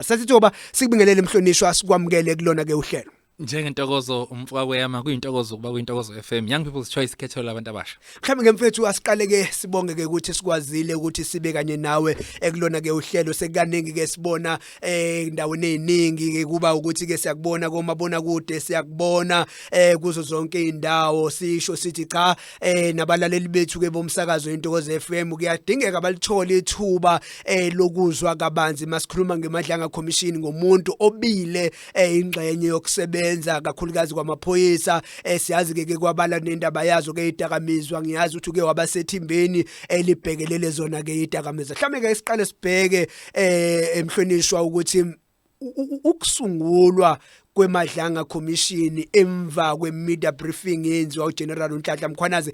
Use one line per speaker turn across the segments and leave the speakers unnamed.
Sasithoba sikubingelele mhlonishwa sikwamukele kulona ke uhlelo. Njengentokozo
umfoka kweyama kuyintokozo kuba kuyintokozo FM Young People's Choice ikhetho labantu abasha. Mhlawumbe ke mfethu
asiqale ke sibonge ke ukuthi sikwazile ukuthi sibe kanye nawe ekulona ke uhlelo sekukaningi ke sibona eh endaweni eziningi ke kuba ukuthi ke siyakubona komabona kude siyakubona eh kuzo zonke indawo sisho sithi cha eh nabalaleli bethu ke bomsakazo intokozo FM kuyadingeka balithole ithuba eh lokuzwa kabanzi masikhuluma ngemadlanga commission ngomuntu obile eh ingxenye yokusebenza kakhulukazi kwamaphoyisa eh siyazi ke kwabala nendaba yazo ke idakamizwa ngiyazi ukuthi ke wabasethimbeni elibhekelele zona ke idakamizwa mhlambe ke siqale sibheke eh emhlonishwa ukuthi ukusungulwa kwemadlanga commission emva kwemedia briefing yenziwa uGeneral uNhlanhla Mkhwanazi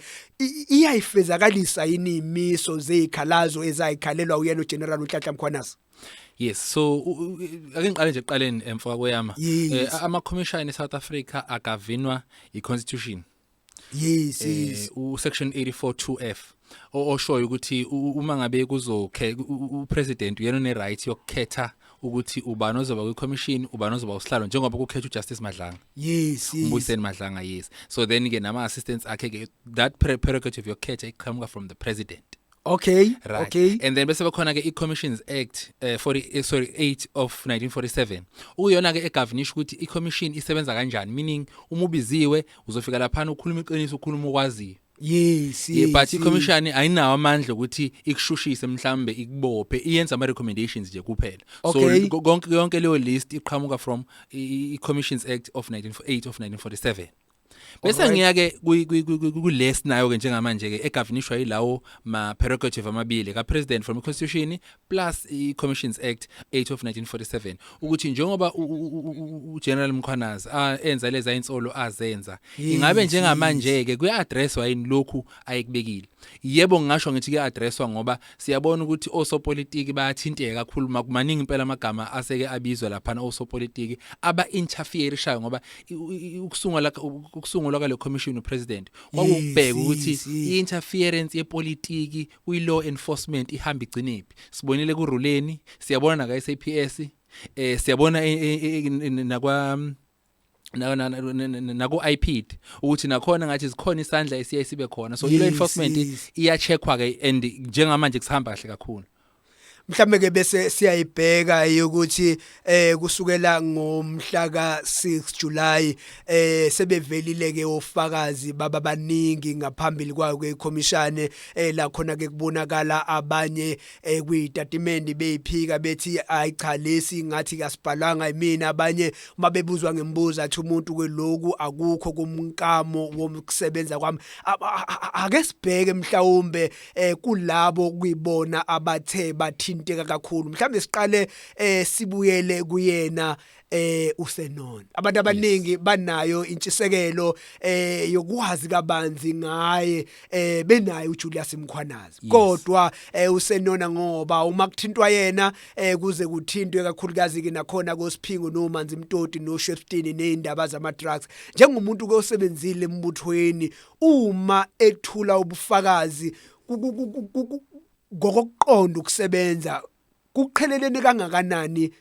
iyayifezakalisa yini imiso zezikhalazo ezayikhalelwa uyena uGeneral uNhlanhla Mkhwanazi Yes so
ake ngiqale nje eqaleni emfoka kweyama eh, ama commission eSouth Africa akavinwa iConstitution yes
eh, yes u
section 84 2F oshoyo ukuthi uma ngabe kuzokhe u president uyena ne right yokukhetha ukuthi ubani ozoba kwi commission ubani ozoba usihlalo njengoba kukhetha uJustice Madlanga yes umbuyiseni
Madlanga
yes so then ke nama assistants akhe ke that prerogative yokukhetha iqhamuka from the president Okay,
right. okay. And then
bese bekhona
ke
iCommissions Act eh 40 eh, sorry 8 of 1947. Uyona ke egovernisha ukuthi iCommission isebenza kanjani meaning uma ubiziwe uzofika lapha ukhuluma iqiniso ukhuluma okwaziyo. Yes, yes.
But iCommission
ayinawo amandla ukuthi ikushushise mhlambe ikubophe iyenza ama recommendations nje kuphela. Okay. So konke yonke leyo list iqhamuka from iCommissions Act of 1948 of 1947. bese ngiya ke kulesi nayo ke njengamanje ke egavinishwa yilawo ma prerogative amabili ka president from constitution plus i commissions act 8 of 1947 ukuthi njengoba u general Mkhwanazi enza leza insolo azenza ingabe njengamanje ke kuya addresswa yini lokhu ayekubekile yebo ngisho ngithi kuya addresswa ngoba siyabona ukuthi osopolitiki bayathinteka kakhulu makumaningi impela amagama aseke abizwa laphana osopolitiki aba interfere shayo ngoba ukusungula ukusungulwa kwale commission upresident kwakubheka ukuthi i-interference yepolitiki kwi-law enforcement ihamba igcinephi sibonile kuruleni siyabona naka-SAPS eh siyabona eh, eh, eh, nakwa naku-ipid ukuthi nakhona ngathi zikhona isandla esiye sibe khona so i-law enforcement iyacheckwa-ke and njengamanje kusihamba kahle kakhulu mhlambe ke
bese siyayibheka ukuthi eh kusukela ngomhla ka6 July eh sebevelile ke ofakazi baba baningi ngaphambili kwayo ke ikhomishane eh la khona ke kubonakala abanye eh kuyitatimende beyiphika bethi ayi cha lesi ngathi kasibhalwanga imina abanye uma bebuzwa ngembuzo athi umuntu kweloku akukho kumkamo wokusebenza kwami ake sibheke mhlawumbe eh kulabo kuyibona abathe bathinteka kakhulu mhlawumbe siqale eh sibuyele kuyena eh usenona abantu abaningi banayo intshisekelo eh yokwazi kabanzi ngaye eh benaye uJulius Mkhwanazi kodwa eh usenona ngoba uma kuthintwa yena eh kuze kuthintwe kakhulukazi ke nakhona koSiphingo noManzi Mtoti noShwestini nezindaba zama drugs njengomuntu ke osebenzile embuthweni uma ethula ubufakazi ngokokuqonda ukusebenza kuqhelelene kangakanani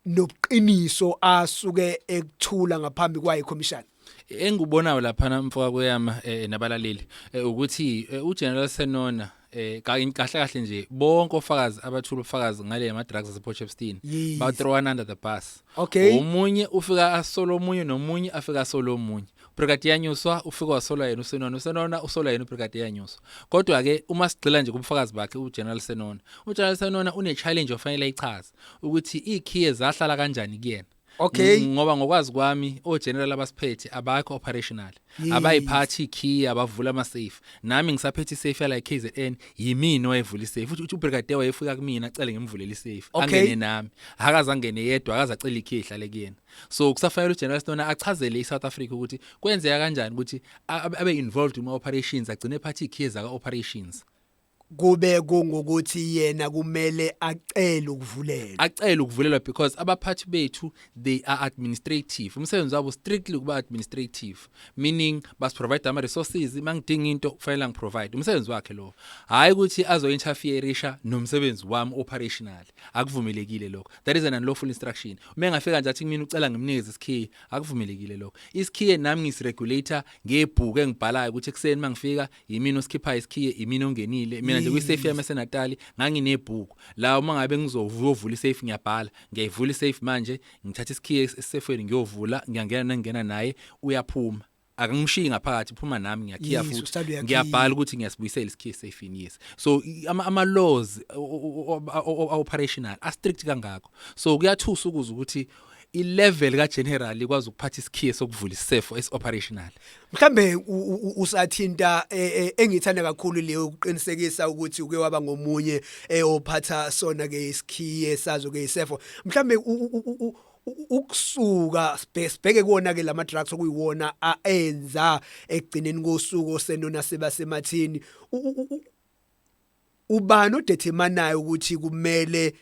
nobuqiniso asuke ekuthula ngaphambi kwayo commission engubonayo
laphana mfoka kweyama eh, nabalaleli eh, ukuthi eh, uGeneral Senona eh kahle kahle nje bonke ofakazi abathula ufakazi ngale ma drugs ase Port Shepstone Yes. ba throw one under the bus Okay. omunye
ufika
asola omunye nomunye afika asola omunye Brigadier Yanyuswa ufika wasola yena uSenona uSenona usola yena uBrigadier Yanyuswa kodwa ke uma sigcila nje kubufakazi bakhe uGeneral Senona uGeneral Senona une challenge ofanele ayichaze ukuthi ikhiye zahlala kanjani kuyena okay ngoba
ngokwazi kwami
o general abasiphethe abakho operational abayiphathi key abavula ama safe nami ngisaphethe safe la KZN yimini wayevula isafe uthi ubrigadier wayefika kumina acele ngimvulele isafe angene nami akazangene yedwa akazacela ikey ihlale kuyena so kusafanele ugeneral Stone achazele iSouth Africa ukuthi kwenzeka kanjani ukuthi abe involved kuma operations agcine phathi ikey zaka operations kube
kungukuthi yena kumele acele ukuvulelwa acele ukuvulelwa because abaphathi
bethu they are administrative umsebenzi wabo strictly kuba administrative meaning bas provide ama resources mangidinga into kufanele ngiprovide umsebenzi wakhe lo hayi ukuthi azo interferisha nomsebenzi wami operational akuvumelekile lokho that is an unlawful instruction uma engafika nje athi kumina ucela ngimnikeze isikhiye akuvumelekile lokho isikhiye nami ngisiregulator ngebhuku engibhalayo ukuthi ekseni mangifika yimina osikhiphayo isikhiye imina ongenile mina nje kwisafe yami esenatali nganginebhuku la uma ngabe ngizovula isafe ngiyabhala ngiyayivula isafe manje ngithatha isikhiye esisefweni ngiyovula ngiyangena nengena naye uyaphuma akangimshiyi ngaphakathi phuma nami ngiyakhiya futhi ngiyabhala ukuthi ngiyasibuyisela isikhiye safini yes so ama, ama laws operational a strict kangako so kuyathusa ukuza ukuthi ilevel kageneral ikwazi ukuphatha isikhiye sokuvula isefo esioperational mhlambe
usathinta e, e, engithanda kakhulu leyo ukuqinisekisa ukuthi uke waba ngomunye eyophatha sona ke isikhiye sazo ke isefo mhlambe ukusuka sibheke kuona ke lama drugs okuyiwona aenza ekugcineni kosuku osenona seba semathini ubani odeterminayo ukuthi kumele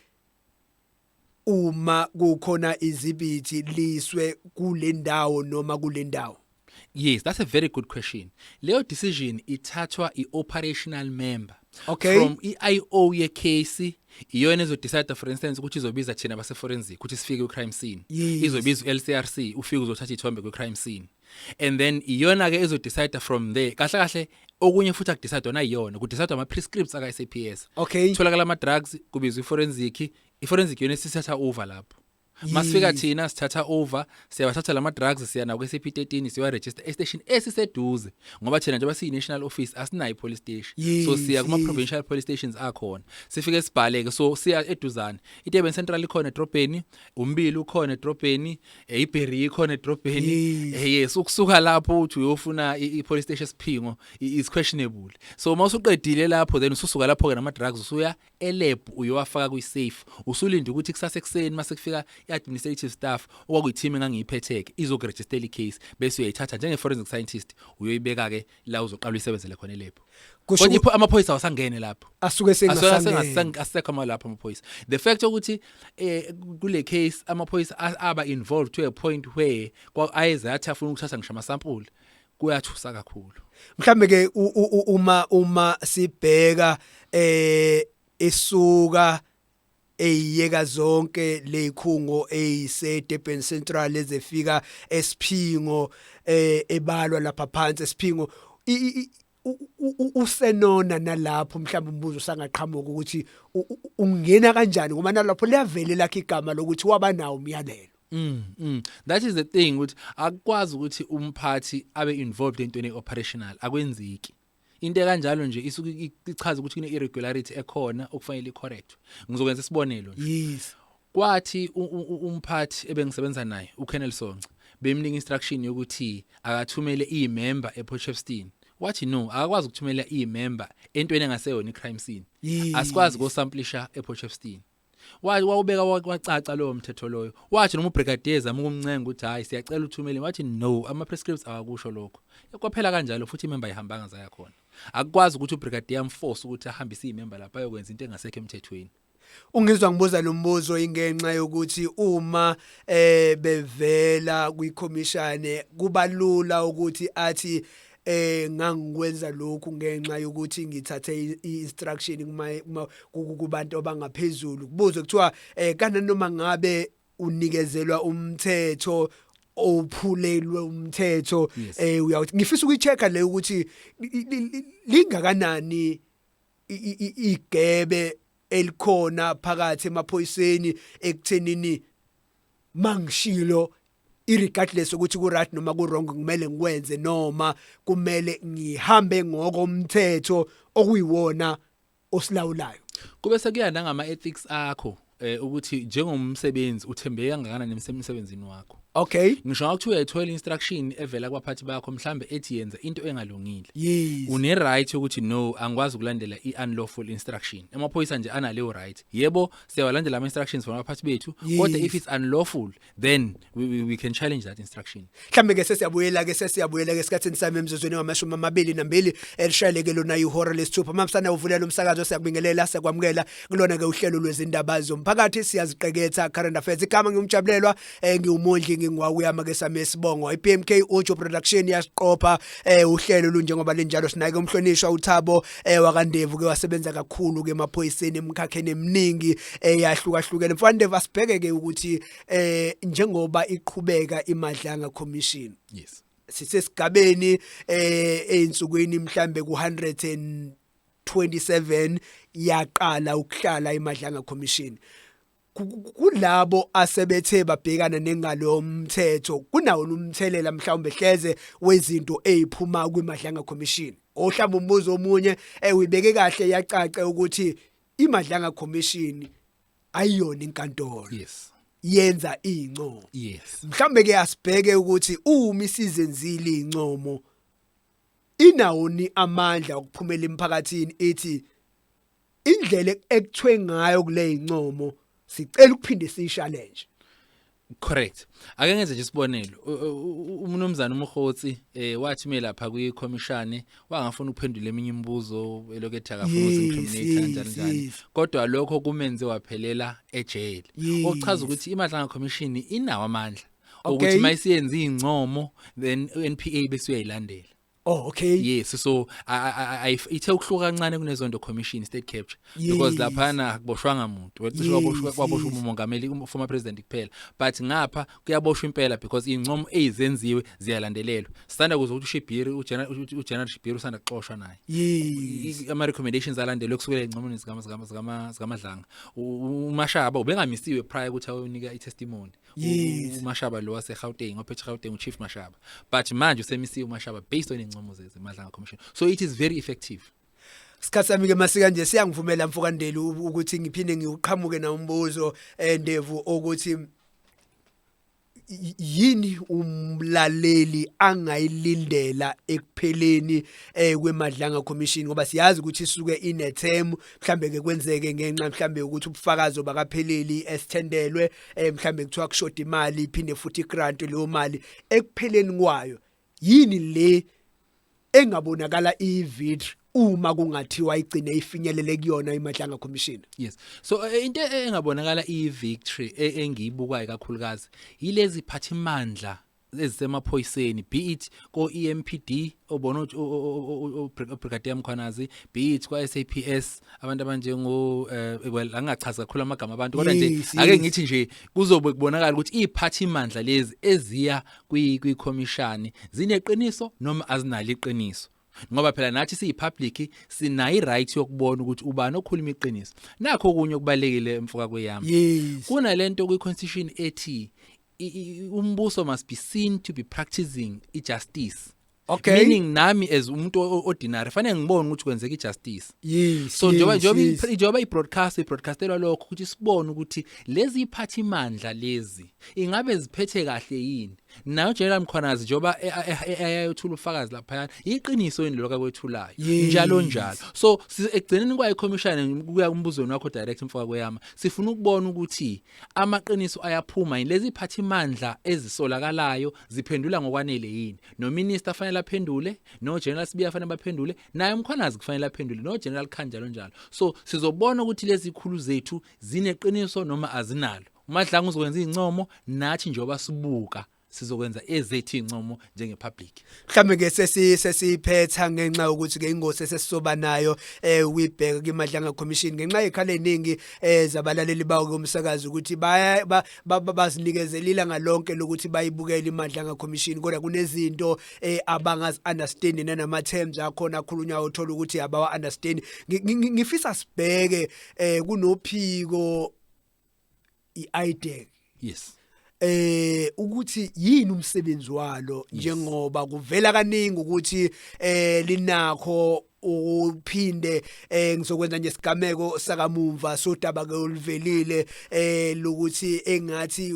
uma kukhona izibithi liswe kule ndawo noma kule ndawo Yes, that's a
very good question. Leyo decision ithathwa i-operational member okay. from
i-IO
yecase iyona ezodecide for instance ukuthi izobiza thina base-forensic ukuthi sifike kwi-crime scene yes. izobiza u-lcrc ufike uzothatha ithombe kwi-crime scene and then iyona ke ezo decide from there kahle kahle okunye futhi akudecide ona iyona kudecide ama prescripts aka SAPS okay tholakala ama
drugs
kubizwa iforensic iforensic yona sisatha over lapho masifika thina sithatha over siyabathatha lama drugs siya naku SAP 13 siwa register e station esiseduze ngoba thina njengoba siyi national office asinayi police station yes, so siya kuma provincial police stations akhona sifike sibhaleke so siya eduzane iteben central ikhona edrobheni umbili ukhona edrobheni eyiberry ikhona edrobheni eh, yes ukusuka lapho uthi uyofuna i-police station siphingo is questionable so uma usuqedile lapho then ususuka lapho ke nama drugs usuya elab uyowafaka kwi safe usulinda ukuthi kusasa ekseni mase kufika i-administrative staff okwakuyi-team engangiyiphetheke izokurejistela i-case bese uyayithatha njenge-forensic scientist uyoyibeka-ke la uzoqala uyisebenzele khona elebhu kusho Kodwa ukuthi ipho- amaphoyisa awasangene lapho asuke Asuke sengasangene
asengasang- asekho
amalapho amaphoyisa the fact ukuthi eh kule case amaphoyisa a- aba involved to a point where kwa- ayeze athi afuna ukuthatha ngisho amasampula kuyathusa kakhulu mhlambe ke u-
u- u- uma uma sibheka eh isuka eyiyeka zonke lezikhungo eziseDurban Central ezefika esiphingo eh, ebalwa lapha phansi esiphingo usenona nalapho mhlawumbe umbuzo sangaqhamuka ukuthi ungena kanjani ngoba nalapho liyavele lakhe igama lokuthi waba nawo umyalelo Mm, mm.
That is the thing ukuthi akwazi ukuthi umphathi abe involved entweni operational akwenzeki. into ekanjalo nje isuke i- ichaza ukuthi kune irregularity ekhona okufanele icorrectwe ngizokwenza isibonelo nje yes kwathi
u-
u- u- umphathi ebengisebenza naye uKennel Sonca bemnika instruction yokuthi akathumele imember ePort Shepstone wathi no akakwazi ukuthumela imember entweni engaseyona icrime scene Yes. asikwazi kosamplisha ePort Shepstone wathi wawubeka wacaca lowo mthetho loyo wathi noma ubrigadier ezama ukumncenga ukuthi hhayi siyacela uthumele wathi no ama-prescripts awakusho lokho kwaphela kanjalo futhi imemba ayihambanga zaya khona akukwazi ukuthi ubrigadier amforce ukuthi ahambise iy'memba lapho ayokwenza into engasekho emthethweni ungizwa ngibuza
lo mbuzo ingenxa yokuthi uma eh bevela kwikhomishane kubalula ukuthi athi eh ngangikwenza lokhu ngenxa yokuthi ngithathe i-instruction kuma kubantu abangaphezulu kubuze kuthiwa eh kana noma ngabe unikezelwa umthetho ophulelwe umthetho eh uyawuthi ngifisa ukuyichecka le ukuthi lingakanani igebe elikhona phakathi emaphoyiseni ekuthenini mangishilo irregardless ukuthi ku right noma ku wrong kumele ngikwenze noma kumele ngihambe ngokomthetho okuyiwona osilawulayo kube sekuya
nangama ethics akho eh ukuthi njengomsebenzi uthembeke kangakanani emsebenzini wakho okay
ngisho ukuthi uyayithola
instruction evela kwabaphathi bakho mhlambe ethi yenza into engalungile yes une
right ukuthi
no angikwazi ukulandela i unlawful instruction emaphoyisa nje analeyo right yebo siyawalandela ama instructions from abaphathi bethu kodwa if it's unlawful then we, we, we can challenge that instruction mhlambe ke sesiyabuyela
ke sesiyabuyela ke esikhathini sami emzuzweni ngamashumi amabili nambili elishayeleke lona ihora lesithupha mamsana uvulela umsakazo siyakubingelela siyakwamukela kulona ke uhlelo lwezindaba zomphakathi siyaziqeketha current affairs igama ngimjabulelwa eh ngiwumondli ngingwaku yama ke same sibongo iPMK Ujo production yasiqopha eh uhlelo lunjengoba linjalo sinake umhlonishwa uThabo eh wakandevu ke wasebenza kakhulu ke emaphoyiseni emkhakheni eminingi eyahlukahlukene eh, mfana Ndevu asibheke ke ukuthi eh njengoba iqhubeka imadlanga commission yes
sisesigabeni
eh einsukwini mhlambe ku 127 yaqala ukuhlala imadlanga commission kulabo asebethe babhekana nengalo mthetho kunawo umthelela mhlawumbe hleze wezinto eziphuma kwiMadlanga Commission ohlamba umbuzo omunye ewibeke eh, kahle yacace ukuthi iMadlanga Commission ayiyona inkantolo yes
yenza
incomo yes mhlambe
ke asibheke
ukuthi uma isizenzile incomo inawoni amandla okuphumela emphakathini ethi indlela ekuthwe ngayo kuleyincomo sicela ukuphinde siyishallenge Correct.
Ake ngenze nje isibonelo. Umnumzana uMkhotsi eh wathi mina lapha kwi commission wangafuna ukuphendula eminye imibuzo elokethe akafuna uzincriminate kanjani kanjani. Kodwa lokho kumenze waphelela ejele. Okuchaza ukuthi iMadlanga Commission inawo amandla ukuthi mayisiyenza izincomo then uNPA bese uyayilandela. Oh okay.
Yes so
ithe ukuhluka kancane kunezonto commission state capture yes. because laphana akuboshwanga muntu wecishe kwaboshwa kwaboshwa umongameli um former president kuphela but ngapha kuyaboshwa impela because incomo ezizenziwe ziyalandelelwa sanda kuze ukuthi uShibiri uGeneral Shibiri usanda kuxoshwa naye yes. ama recommendations alandelwe kusukela ezincomweni zikama zikama zikama zikamadlanga umashaba ubengamisiwe prior ukuthi awunika i testimony Yes. umashaba lo wasegauteng ophethe gauteng uchief mashaba but manje usemisiwe umashaba based on iy'ncomo zeze madlanga commission so it is very effective Isikhathi sami
ke masika nje siyangivumela mfokandeli u- ukuthi ngiphinde ngiwuqhamuke na umbuzo eh, Ndevu ukuthi y- yini umlaleli angayilindela ekupheleni eh kwemadlanga commission ngoba siyazi ukuthi isuke inethemu mhlambe ke kwenzeke ngenxa mhlambe ukuthi ubufakazi obakapheleli esithendelwe eh mhlambe kuthiwa kushoda imali iphinde futhi grant leyo mali ekupheleni kwayo yini le engabonakala ivid uma kungathiwa igcine ifinyelele kuyona iMadlanga Commission yes so eh,
into engabonakala iyivictory e, engiyibukayo kakhulukazi yilezi phathimandla ezisemaphoyiseni be it ko EMPD obona uBrigadier Mkhwanazi be it kwa SAPS abantu abanjengo eh, well angachaza kakhulu amagama abantu kodwa nje ake ngithi nje kuzobe kubonakala ukuthi iziphathi imandla lezi eziya kwi kwi commission zineqiniso noma azinalo iqiniso ngoba phela nathi siyipublic sinayo iright yokubona ukuthi ubani okhuluma iqiniso nakho okunye okubalekile emfoka kweyami kunalento kwi constitution ethi umbuso must be seen to be practicing i-justice okay meaning nami as umuntu ordinary fanele ngibone ukuthi kwenzeka ijustice yes so njengoba njengoba njengoba ibroadcast ibroadcastelwa lokho ukuthi sibone ukuthi lezi iphathi imandla lezi ingabe ziphethe kahle yini nayo General Mkhwanazi njengoba e, e, e, ayayothula ufakazi lapha iqiniso yini lokho akwethulayo njalo njalo so ekugcineni kwayi commission kuya kumbuzweni wakho direct mfoka kweyama sifuna ukubona ukuthi Amaqiniso ayaphuma yini? Lezi phathimandla ezisolakalayo ziphendula ngokwanele yini? Nominista fanele aphendule, no General Sibiya fanele baphendule, naye umkhwanazi kufanele aphendule, no General Khanjalo njalo. So sizobona ukuthi lezi khulu zethu zineqiniso noma azinalo. UMadlanga uzokwenza izincomo nathi njengoba sibuka sizokwenza ezethu incomo njenge public mhlambe ke sesi
sesiphetha ngenxa yokuthi ke ingosi sesisoba nayo eh wibheka kimadlanga commission ngenxa yekhala eningi eh zabalaleli bawo komsakazi ukuthi baya bazinikezelila ngalonke lokuthi bayibukele imadlanga commission kodwa kunezinto eh abangazi understand nanama terms akhona akhulunywa uthola ukuthi abawa understand ngifisa sibheke eh kunophiko iIDEC yes
eh
ukuthi yini umsebenzi walo njengoba kuvela kaningi ukuthi eh linakho uphinde eh ngizokwenza nje sigameko sakamumva sodaba ke oluvelile eh lokuthi engathi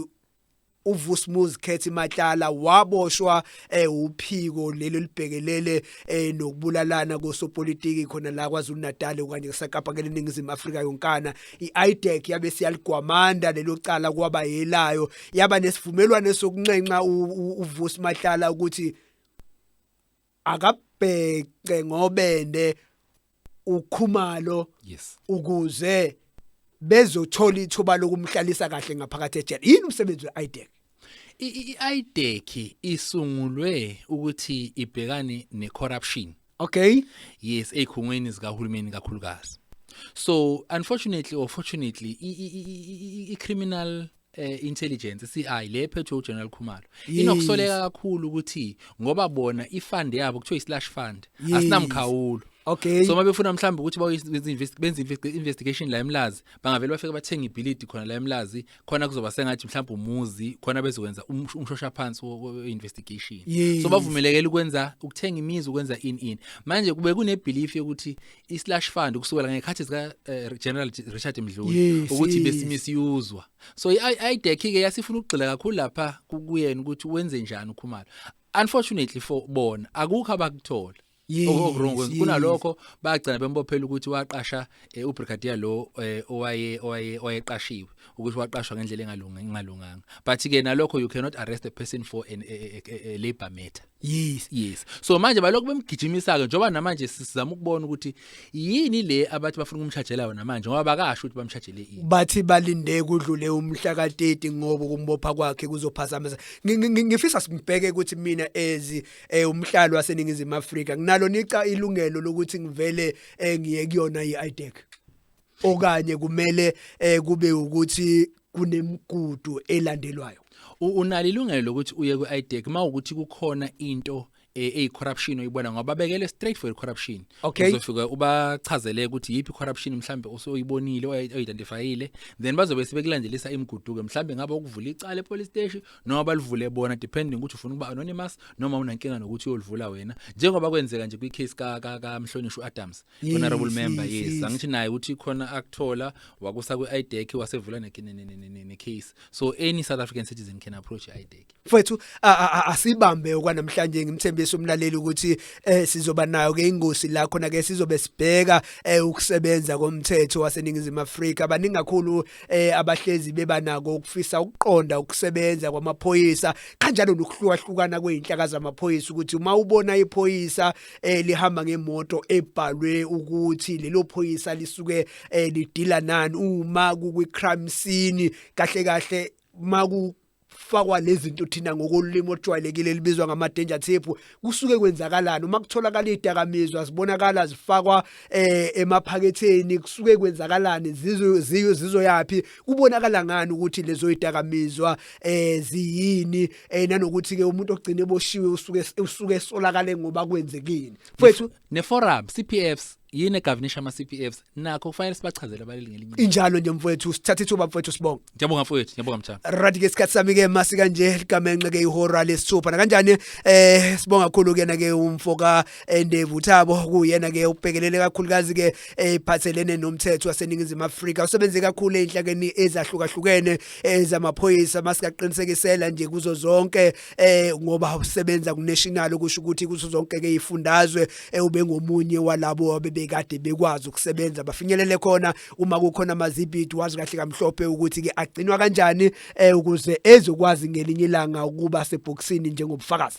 uVusmuzi Khethi Matlala waboshwa eh uphiko lelo libhekelele eh nokubulalana kosopolitiki khona la kwaZulu Natal okanye eSakapa keleningizimu Afrika yonkana iIDEC yabe siyaligwamanda lelo cala kwaba yelayo yaba nesivumelwano sokunxenxa uVusi Matlala ukuthi akabhece ngobende ukhumalo yes
ukuze
bezothola ithuba lokumhlalisa kahle ngaphakathi ejele yini umsebenzi weIDEC iIDEC e
isungulwe ukuthi ibhekane necorruption okay
yes ezikhungweni
zikahulumeni kakhulukazi so unfortunately or fortunately i criminal eh intelligence CI le phethwe uGeneral Khumalo Yes. inokusoleka kakhulu ukuthi ngoba bona ifund yabo kuthiwa islash fund Yes. asinamkhawulo okay so uma
befuna mhlawumbe ukuthi
bayoyenza invest- benze invest- investigation la emlazi bangavele bafike bathenga ibhilidi khona la emlazi khona kuzoba sengathi mhlawumbe umuzi khona bezokwenza umsh- umshosha phansi wo- wo- we-investigation Yes. so bavumelekele ukwenza ukuthenga imizi ukwenza in in manje kube kunebelief yokuthi islash fund ukusukela ngekhathi zika eh, General Richard Mdluli Yes, ukuthi yes. besimisyuzwa so iDec ke yasifuna ukugxila kakhulu lapha ku- kuyena ukuthi wenze njani uKhumalo unfortunately for bona akukho abakuthola Yes, okurong yes. kunalokho bagcina bembophela ukuthi waqasha eh, ubrigadier lo eh, owaye owaye owayeqashiwe ukuthi waqashwa ngendlela engalunga engalunganga but ke nalokho you cannot arrest a person for an a, a, a, a labor matter Yes. Yes. So manje balokhu bemgijimisa ke njoba namanje sizama ukubona ukuthi yini le abathi bafuna ukumshajela yona manje ngoba bakasho ukuthi bamshajele ini. Bathi balinde
kudlule umhla ka 30 ngoba kumbopha kwakhe kuzophazamisa. Ngi- ngi- ngi- Ngifisa simbheke ukuthi mina ezi eh, umhlalo waseningizimu Afrika nginalo nica ilungelo lokuthi ngivele eh, ngiye kuyona iIDEC. okanye kumele eh kube ukuthi kunemigudu elandelwayo unalo ilungelo
lokuthi uye kwi-IDEC uma ukuthi kukhona into eh, eyicorruption oyibona ngoba bekele straight for corruption okay. uzofika ubachazele ukuthi yipi corruption mhlambe osoyibonile oyidentifyile then bazobe sebekulandelisa imiguduke mhlambe ngabe ukuvula icala epolice station noma balivule bona depending ukuthi ufuna ukuba anonymous noma unankinga nokuthi uyolivula wena njengoba kwenzeka nje kwi case ka ka, ka Mhlonishwa Adams Yes, honorable member yes, yes yes. angithi naye uthi khona akuthola wakusa ku IDEC wasevula ne ne- ne- ne- ne- ne case so any south african citizen can approach E IDEC mfowethu a- a-
a- asibambe okwanamhlanje ngimthembisa umlaleli ukuthi eh sizoba nayo ke ingosi la khona ke sizobe sibheka eh ukusebenza komthetho waseningizimu Afrika baningi kakhulu eh abahlezi bebanako ukufisa ukuqonda ukusebenza kwamaphoyisa kanjalo nokuhlukahlukana kweinhlaka zamaphoyisa ukuthi uma ubona iphoyisa eh lihamba ngemoto ebhalwe ukuthi lelo phoyisa lisuke eh lidila nani uma kukwi crime scene kahle kahle maku fakwa lezinto thina ngokolimi ojwayelekile libizwa ngama danger tape kusuke kwenzakalani uma kutholakala idakamizwa zibonakala zifakwa eh emaphaketheni kusuke kwenzakalani zizo zizoyapi kubonakala ngani ukuthi lezo idakamizwa eh ziyini eh nanokuthi ke umuntu ogcine boshiwe usuke usuke solakale ngoba kwenzekini mfethu ne forum CPFs
yini egavinisha ama CPFs nakho kufanele sibachazele abaleli ngelinye injalo nje mfethu
sithatha ithuba mfethu sibonga ngiyabonga mfethu ngiyabonga
mtshana right ke isikhathi sami ke
masi kanje ligamenxe ke ihora lesithupha na kanjani eh sibonga kakhulu kena ke umfoka eh, Ndevu Thabo kuyena ke ubhekelele kakhulukazi ke ephathelene eh, nomthetho waseningizimu Afrika usebenze kakhulu enhlakeni ezahlukahlukene ezamaphoyisa masikaqinisekisela nje kuzo zonke eh ngoba usebenza kunational kusho ukuthi kuzo zonke ke ifundazwe eh, ubengomunye walabo abebekade bekwazi ukusebenza bafinyelele khona uma kukhona amazibidi wazi kahle kamhlophe ukuthi ke agcinwa kanjani eh ukuze ezokwazi ngelinye ilanga ukuba sebhoksini njengobufakazi